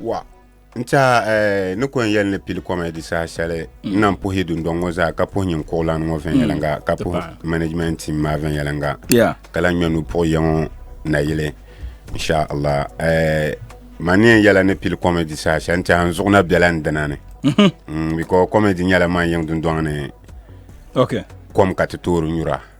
wa n tiɛha eh, ni ko n yɛli ni pili kɔmɛdi saha shɛli n na puhi dundɔŋ ŋɔ zaa ka puhi nyin kuɣulani ŋɔ viɛnyɛliŋga mm. ka puhi management team maa viɛnyɛliŋga ka la ŋmɛ nu puhi yɛ ŋɔ nayili inshallah eh, ma ni yɛn yɛla ni pili kɔmɛdi saha shɛli n tiɛha n zuɣu na biɛla n dina ni mhm. mm, bikɔ kɔmɛdi nyɛla man yiŋ dundɔŋ ni kom ka ti toori nyura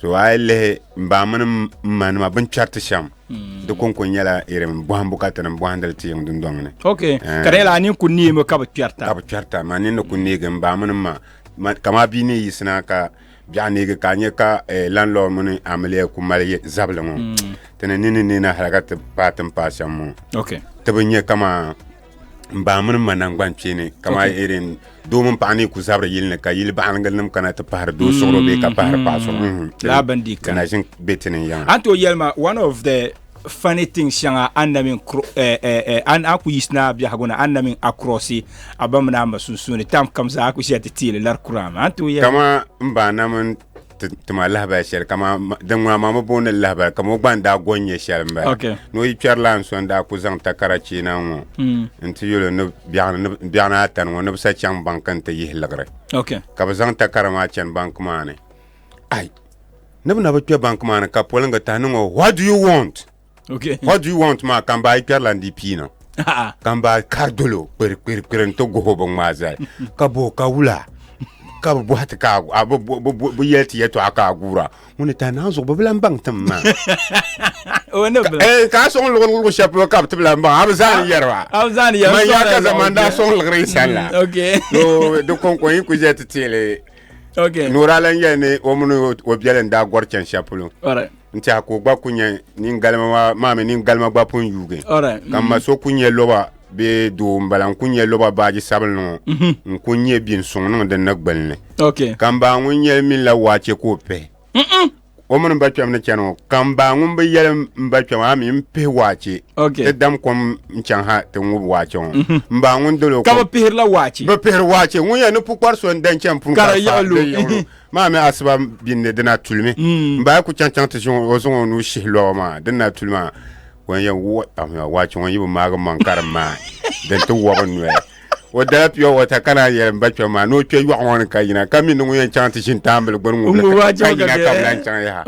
so a yi lihi mbaŋ mini mma nima bin kpɛriti shɛm mm. di konko nyɛla irin bɔhimbu ka ti ni bɔhindili ti yiŋ dundɔŋ ni ok eh. ka di yɛla a nin ku neemi ka bi kpɛrita ka bi kpɛrita ma nin ni ku neegi mbaŋ mini mma kama bia ni yisina ka biɛɣu neegi ka a nyɛ ka eh, landlord mini amiliya ku mali zabili ŋɔ mm. ti ni nini neena hali ka ti paai tin paai shɛm ŋɔ ti bi nyɛ kama n baŋ mini ma nangban kpeeni kamani okay. irin doo mini paɣa ni ku zabiri yili ni ka yili baɣalingira nim kana ti pahari doo suɣuro bee ka pahari paɣa suɣuro mm-hmm. mm-hmm. laa bindii mm-hmm. kana ʒin bɛ tini n yaŋa an to yɛlima one of the funny thing shɛŋa an na min eh, eh, eh, an a ku yisina biɛhigu na an na min acrossi a ba mini a ma sunsuuni tam kam zaa a ku ʒiya ti teeli lari kura ma an to yɛlima kama n ba na min tima lahabali shɛli kamani din ŋuna maa mi booni lahabali kama o gba n daa gɔn nyɛ shɛli n bala ni o yi kpɛri la n so n daa ku zaŋ takara cheena ŋɔ hmm. n ti yuli ni biɛɣu ni atani ŋɔ ni bi sa chaŋ banki n ti yihi liɣiri ka bi zaŋ takara maa chani banki maa ni ai ni bi na bi kpɛ banki maa ni ka polingi tahi ni ŋɔ what do you want Okay. What do you want maa ka n baa yi kpɛrila n di pii na A'a. ka n baa kari dolo kpiri kpiri kpiri n ti goho bi ŋmaa zali ka boho ka wula ka bi bɔhi ti ka a gu- a bi bo- bi bo- bi yɛli ti yɛtɔɣa ka a guura ŋuni ta naan zuɣu bi bi lan baŋ tim maa O ne bila. Eh, ka a sɔŋ luɣi luɣi shɛli polo ka bi ti bi lan baŋ a bi zaa ni yɛriba A bi zaa ni yɛri, man sɔŋ yaa la ka zaŋ zaman daa o sɔŋ liɣiri sani la Mm, okay. so di kɔŋkɔŋ yi ku ʒɛ ti teeli Okay. nura lan yɛli ni o mini o- o biɛli n daa gɔri chɛni shɛli polo All right. n tiɛha ka o gba ku nyɛ nin galima maa maa mi nin galima gba pun yuugi ka mm-hmm. ma so ku nyɛ loba bee doo n bala n ku nyɛ loba baaji sabinli ŋɔ mm-hmm. n ku nyɛ bi n suŋ niŋ din na gbalini ka n baa ŋun yɛli min la waache ka o pihi o mini ba kpɛm ni chɛni ŋɔ ka n baa ŋun bi yɛli n ba kpɛm a mi n pihi waache ti dam kom n chaŋ ha ti ŋubi waache ŋɔ mm-hmm. n baa ŋun dolo ka bi pihirila waache bi pihiri waache ŋun yɛn ni pukpari so n dan chɛni pun ka di maa mi asiba bini ni dina tulimi mm. m baa ku chaŋ chaŋ ti zaŋ o zaŋ o nuu shihi lɔɣu maa din na tuli maa wan yɛn waache ŋɔ yi bi maagi maŋ karim maa din ti wɔbi noya o dala pure water ka naan yɛli n ba kpɛm maa ni o kpɛ yɔɣu ŋɔ ni ka yina ka mi ni ŋun yɛn chaŋ ti ʒini taambili gbuni ŋubili ka yina ka bi lan chaŋ yaha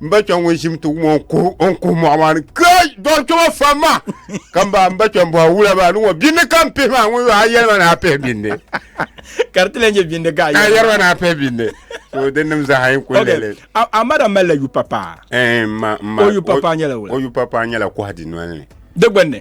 n ba kpɛm ŋun ʒim ti wum o n kuhi mɔɣu maa ni kai dɔri kpɛma fam ma ka m ba n ba kpɛm bɔha wula maa ni ŋɔ bindi ka m pihi maa ŋun yo a yɛlima ni a pihi bindi ka di ti lan nyɛ bindi ka a yɛlima ni a pihi bindi so din nim zaa yɛn kuli lele a mada malila yu papa eh, o yu papa nyɛla wula o yu papa nyɛla kɔhadi noli ni di gbunni